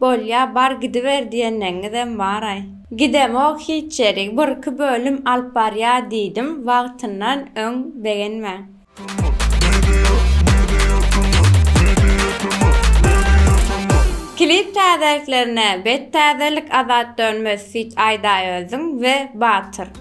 Bolýa bar gidiber diýenleňňizem baraý. Gidemok hiç ýerik bir iki bölüm alyp barýa diýdim wagtyndan öň begenmäň. Klip täzeliklerine bet täzelik Azat Dönmez feat Aýdaýöziň we Batyr.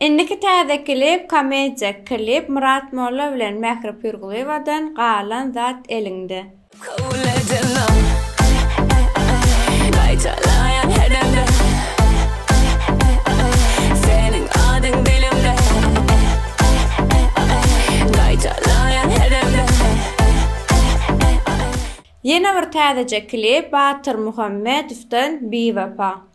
Indiki täze klip komediýa klip Myrat Molla bilen Mähri Pürgulyewadan Galan zat eliňde. Kabul edemem Gaýtalaýan her demde Seniň adyň dilimde Gaýtalaýan her demde Ýene bir täzeje klip Batyr Muhammedowdan Biwepa.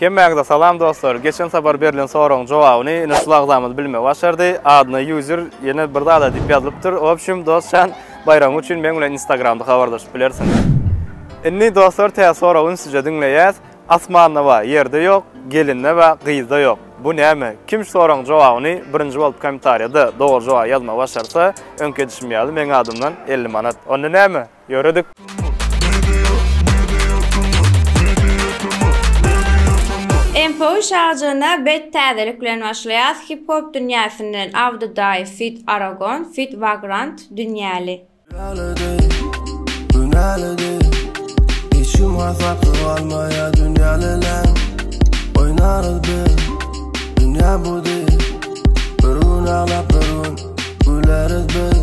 Hemmäňize salam dostlar! Geçen sapar berlen soragyň jogabyny ine şul agzamyz bilmegi başardy. Adyna user ýene bir zada diýip ýazylypdyr. W opşum dostjan baýragyň üçin meň bilen instagramda habarlaşyp bilersiň. Indi dostlar tä soragy ünsüje diňleýäs. Asmanda bar, ýerde ýok, gelinde bar, gyzda ýok. Bu näme? Kim şu soragyň jogabyny birinji bolup komentarýada dogry jogaby ýazmagy başarsa, öňki edişim ýaly meň adymdan elli manat. Onda näme? ýöredik. MPO şagjygyna bet täzelik bilen başlaýas hip-hop dünýäsinden Awdadaýew feat Aragon feat Vagrant Dünýäli. Dünýälede, dünýälede Hiç kim hasapda galmaýar dünýäliler Oýnarys biz, dünýä bu diýip Bir gün aglap bir gün güleris biz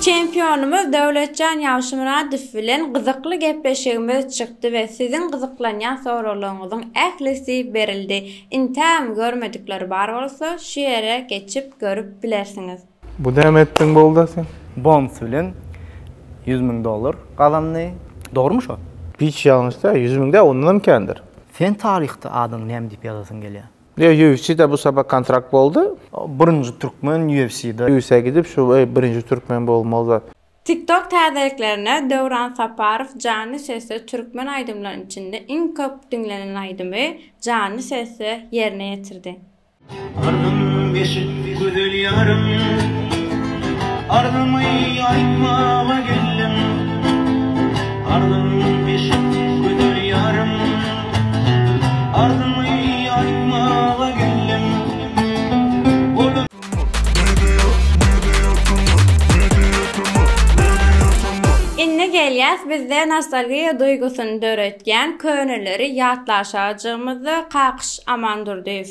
Çempionymyz Döwletjan Ýagşymyradow bilen gyzykly gepleşigimiz çykdy we siziň gyzyklanýan soraglaryňyzyň ählisi berildi. Intäm görmedikleri bar bolsa, şu ýere geçip görüp bilersiňiz. Bu näme etdiň bolda sen. Bonus bilen ýüz müň dollar gazandy. Dogrymy şo? Hiç ýalňyş däl, ýüz müň däl, ondanam kändir. Sen taryhda adyňy näme diýip ýazasyň gelýär? UFC-de bu sapak kontrakt boldy. Birinji türkmen UFC-de. Usa gidip şu birinji türkmen bolmaly zat. TikTok täzeliklerine Döwran Saparow janly sesde türkmen aýdymlarynyň içinde iň köp diňlenen aýdymy janly sesde ýerine ýetirdi. Arzym beşik gözel ýarym Arzymy aýtmaga geldim Arzym beşik gözel ýarym. Indi gelýäs bizde nostalgiýa duýgusyny döretýän köneleri ýatlaşajygymyza Kakyş Amandurdyýew.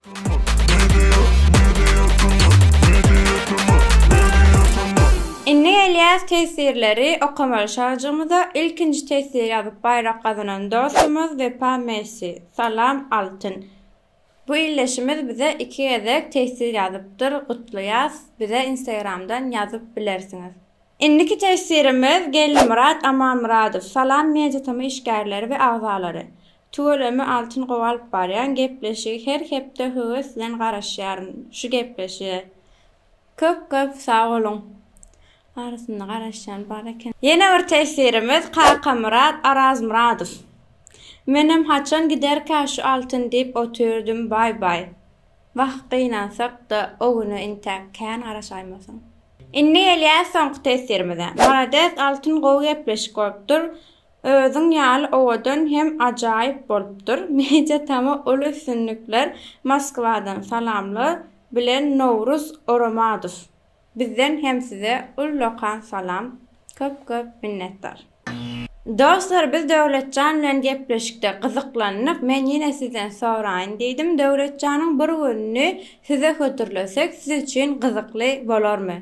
Indi gelýäs teswirleri okamaly şajygymyza ilkinji teswir ýazyp baýrak gazanan dostumyz Wepa Messi Salam Altyn bu ildeşimiz bize iki gezek teswir ýazypdyr gutlaýas bize instagramdan ýazyp bilersiňiz. Indiki teswirimiz Gellimyrat Amanmyradow Salam Media Tm işgärleri we agzalary Tuweleme Altyn gowy alyp barýaň gepleşigi her hepde höwes bilen garaşýaryn şu gepleşige köp köp sag boluň. Arasynda garaşýan bar eken. Ýene bir tesirimiz Kakamyrat Arazmyradow. Menem haçan giderkä şu altyn diýip otyrdym baý baý. Wah gynansakda o güne intäk kän garaşaýmasaň. Indi gelýäs soňky tesirimize. Malades altyn gowy gepleşik bolupdyr. Özüň ýaly owadan hem ajaýyp bolupdyr media tama uly üstünlikler Moskwadan salamlar bilen Nowruz Oromadow bizden hem size ullakan salam köp köp minnetdar. Dostlar biz Döwletjan bilen gepleşikde gyzyklandyk men ýene sizden soraýyn diýdim Döwletjanyň bir gününi size hödürlesek siz üçin gyzykly bolarmy.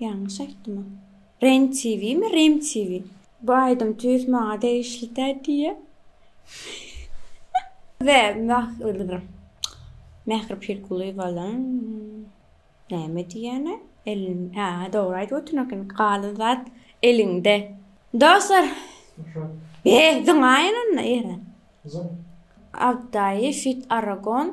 Ýalňyş aýtdyma. Ren TV mi Rim TV. Bu aýdym tüýs maňa degişli dä diýýä. Ve Mähri Pirkulýewalaň näme diýýäne elin hä dogry aýdyp otyr eken galan zat eliňde. Dostlar be zyňaýyn onda ýere. Abdaýy fit Aragon